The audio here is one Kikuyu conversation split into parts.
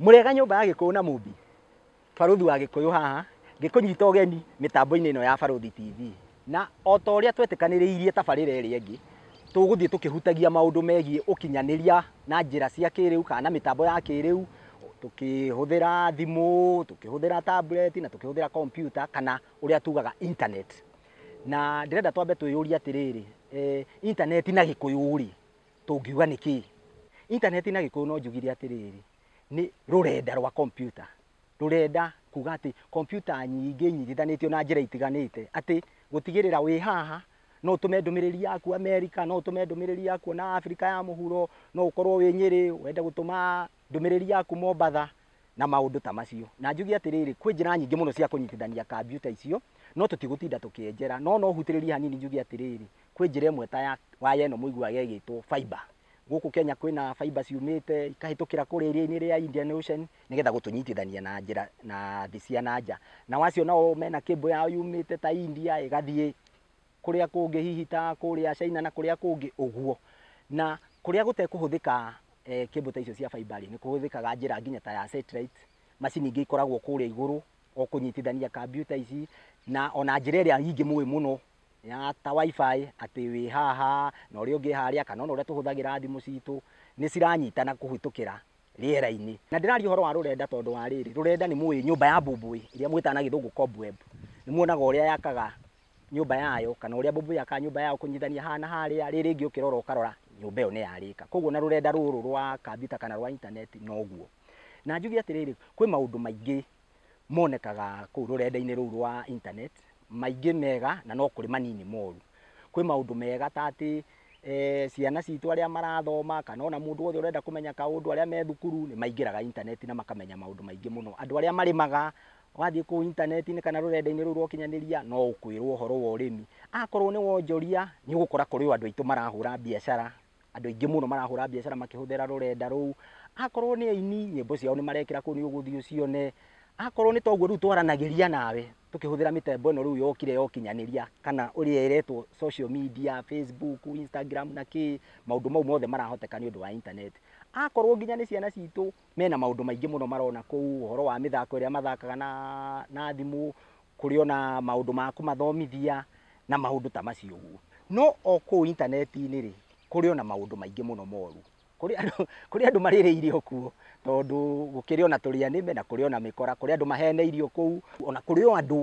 Mũrĩega nyũmba ya Gĩkũyũ na Mũmbi, barũthi wa Gĩkũyũ haha ngĩkũnyita ũgeni mĩtambo-inĩ ĩno ya Barũthi TV, na o ta ũrĩa twetĩkanĩrĩirie tabarĩra ĩrĩa ĩngĩ, tũgũthiĩ tũkĩhutagia maũndũ megiĩ ũkinyanĩria na njĩra cia kĩrĩu kana na mĩtambo ya kĩrĩu, tũkĩhũthĩra thimũ, tũkĩhũthĩra tablet na tũkĩhũthĩra kompiuta kana ũrĩa tugaga internet. na ndĩrenda twambe twĩyũrie atĩrĩrĩ eh, intaneti na gĩkũyũ rĩ tũngiuga nĩ kĩĩ intaneti na gĩkũyũ no njugire atĩrĩrĩ nĩ rũrenda rwa kompyuta rũrenda kuga atĩ kompyuta nyingĩ inyitithanĩtio na njĩra itiganĩte atĩ gũtigĩrĩra wĩ haha no ũtũme ndũmĩrĩri yaku amerika no ũtũme ndũmĩrĩri yaku na afrika ya mũhuro no ũkorwo wĩ nyĩrĩ wende gũtũma ndũmĩrĩri yaku mombatha na maũndũ ta macio. Na njuge atĩrĩrĩ, kwĩ njĩra nyingĩ mũno cia kũnyitithania kambiuta icio, no tũtigũtinda tũkĩenjera. No no hutĩrĩrie hanini njuge atĩrĩrĩ, kwĩ njĩra ĩmwe ta ya waya ĩno mũiguaga ĩgĩtwo fiber. Gũkũ Kenya kwĩna fiber ciumĩte ikahĩtũkĩra kũrĩa iria-inĩ rĩa Indian Ocean, nĩgetha gũtũnyitithania na njĩra na thĩ cia na nja. Nao acio nao mena cable yao yumĩte ta India ĩgathiĩ kũrĩa kũngĩ hihi ta kũrĩa China na kũrĩa kũngĩ ũguo. Na kũrĩa gũtekũhũthĩka eh, cable ta icio cia fiber rĩ, nĩ kũhũthĩkaga njĩra nginya ta ya satellite, macini ingĩ ikoragwo kũrĩa igũrũ o kũnyitithania kambiuta ici na ona njĩra ĩrĩa ingĩ mũĩ mũno ya ta wifi atĩ wĩ haha na ũrĩa ũngĩ harĩa kana ona ũrĩa tũhũthagĩra thimũ citũ nĩ ciranyitana kũhĩtũkĩra rĩera-inĩ na ndĩraria ũhoro wa rũrenda tondũ wa rĩrĩ rũrenda nĩ mũĩ nyũmba ya mbũmbũĩ ĩrĩa mwĩtaga na gĩthũngũ cobweb nĩ muonaga ũrĩa yakaga nyũmba yayo kana ũrĩa mbũmbĩ yakaga nyũmba yayo kũnyitithania haha na harĩa, rĩrĩ rĩngĩ ũkĩrora ũkarora nyũmba ĩyo nĩ yarĩka. Koguo na rũrenda rũrũ rwa kambiuta kana rwa intaneti noguo. Na njuge atĩrĩrĩ, kwĩ maũndũ maingĩ monekaga kũu rũrenda-inĩ rũu rwa intaneti, maingĩ mega na no kũrĩ manini moru. Kwĩ maũndũ mega ta atĩ eh, ciana citũ arĩa marathoma kana ona mũndũ wothe ũrenda kũmenya kaũndũ, arĩa me thukuru nĩ maingĩraga intaneti na makamenya maũndũ maingĩ mũno. Andũ arĩa marĩmaga Wathiĩ kũu intaneti-inĩ kana rũrenda-inĩ rũu rwa ũkinyanĩria no ũkwĩrwo ũhoro wa ũrĩmi. Akorwo nĩ wonjoria nĩ ũgũkora kũrĩ o andũ aitũ marahũra biacara, andũ aingĩ mũno marahũra biacara makĩhũthĩra rũrenda rũu. Akorwo nĩ aini nyĩmbo ciao nĩ marekĩra kũu nĩ ũgũthiĩ ũcione. Akorwo nĩ ta ũguo rĩu twaranagĩria nawe tũkĩhũthĩra mĩtambo ĩno rĩu yokire ya ũkinyanĩria kana ũrĩa ĩretwo social media, Facebook, Instagram na kĩĩ, maũndũ mau mothe marahoteka nĩ ũndũ wa intaneti. Akorwo nginya nĩ ciana citũ Mena maũndũ maingĩ mũno marona kũu, ũhoro wa mĩthako ĩrĩa mathakaga na na thimũ, kũrĩ ona maũndũ ma kũmathomithia, na maũndũ ta macio ũguo. No o kũu intaneti-inĩ rĩ, kũrĩ ona maũndũ maingĩ mũno moru. Kũrĩ andũ kũrĩ andũ marĩrĩirio kuo, tondũ gũkĩrĩ ona tũrĩa nĩme, na kũrĩ ona mĩkora, kũrĩ andũ maheneirio kũu, ona kũrĩ o andũ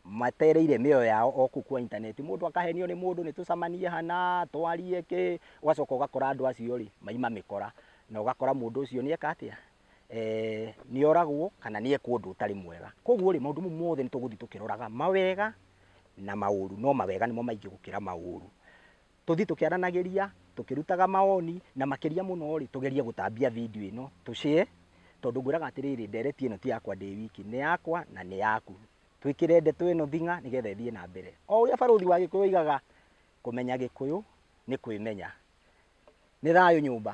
matereire mĩoyo yao o kũu kwa intaneti, mũndũ akahenio nĩ mũndũ nĩtũcamanie hana, twarie kĩ, ũgacoka ũgakora andũ acio rĩ, maima mĩkora, na ũgakora mũndũ ũcio nĩeka atĩa, nĩoragwo kana nĩeka ũndũ ũtarĩ mwega. Koguo rĩ, maũndũ mau mothe nĩtũgũthiĩ tũkĩroraga mawega na maũru, no mawega nĩmo maingĩ gũkĩra maũru. Tũthiĩ tũkĩaranagĩria, tũkĩrutaga mawoni, na makĩria mũno rĩ, tũgerie gũtambia video ĩno, tũ share, tondũ ngwĩraga atĩrĩrĩ, ndereti ĩno ti yakwa ndĩ wiki, nĩ yakwa na nĩ yaku. twĩkĩre ndeto ĩno thing'a nĩgetha ĩthiĩ na mbere. O ũrĩa barũthi wa Gĩkũyũ oigaga, kũmenya Gĩkũyũ nĩ kwĩmenya. Nĩ thayũ nyũmba.